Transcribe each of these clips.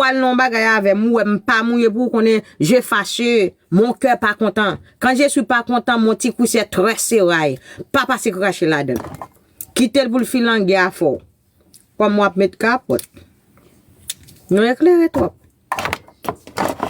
pral nan yon bagay avèm ou wèm pa mouye pou ou konnen je fache mon kè pa kontan kan je swi pa kontan mon ti kwisè trè seray pa pase krache ladann kitel poul filange afè w kòm wap met kapòt nou eklere twòp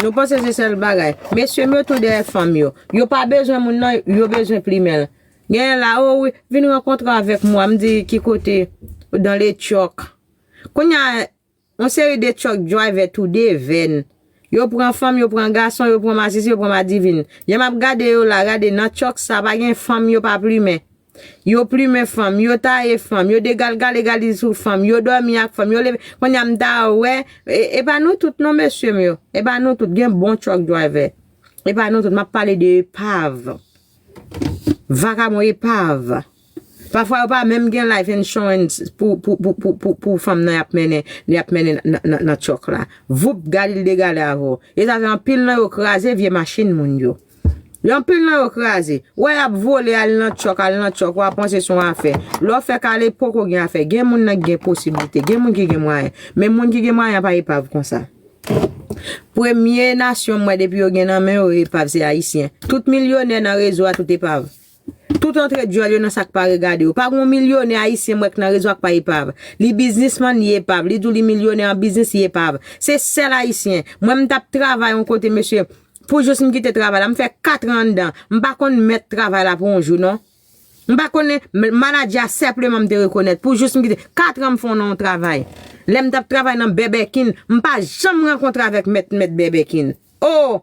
nou panse se sèl bagay mesyem yo tou dèyè fanm yo yo pa bezwen moun nan yo bezwen plimenl genyen la o wi vin rankontre avèk mwa mdi ki kote dan le tyòk kounya. On seri de truck driver toude vèn. Yo pran fanm, yo pran gason, yo pran masisi, yo pran madivin. Lè m ap gade yo la, gade nan truck sa pa gen fanm yo pa plumen. Yo plumen fanm, yo taye fanm, yo degalgale galiz sou fanm, yo dòmi ak fanm, yo leve, kounye a m ta wè, e pa nou tout non mesye m yo, e pa nou tout, gen bon truck driver. E pa nou tout, m ap pale de epav. Vakabon epav. Pafwa yo pa menm gen life insurance pou fanm nan yap mennen li ap mennen nan truck la. Voup gade li degale avè w. E sa fè anpil nan yo kraze vye machin moun yo. Yo anpil nan yo kraze. Ou wè yap vole al nan truck, al nan truck wa panse son afè. Lè w fè kale poko gen afè. Gen moun nan ki gen posibilite. Gen moun ki gen mwayen. Men moun ki gen mwayen an pa epav konsa. Premye nasyon m wè depi yo gen nan men yo epav se ayisyen. Tout milyonè nan rezo a tout epav. Tout antre dyòl yo nan sak pa regade yo. Pa gon milyonè ayisyen m wè k nan rezo ak pa epav. Li biznismann, li epav. Li di w li milyonè an biznis, li epav. Se sèl ayisyen. Mwen m t ap travay on kote mesye, pou jous m kite travay la. M fè katran anndan. M pa konn mèt travay la pou on jou non. M pa konnen, manadjè a senpleman m te rekonèt. Pou jous m kite, katran m fè w nan on travay. Lè m t ap travay nan bèbèkin, m pa janm rankontre avèk mèt mèt bèbèkin. O!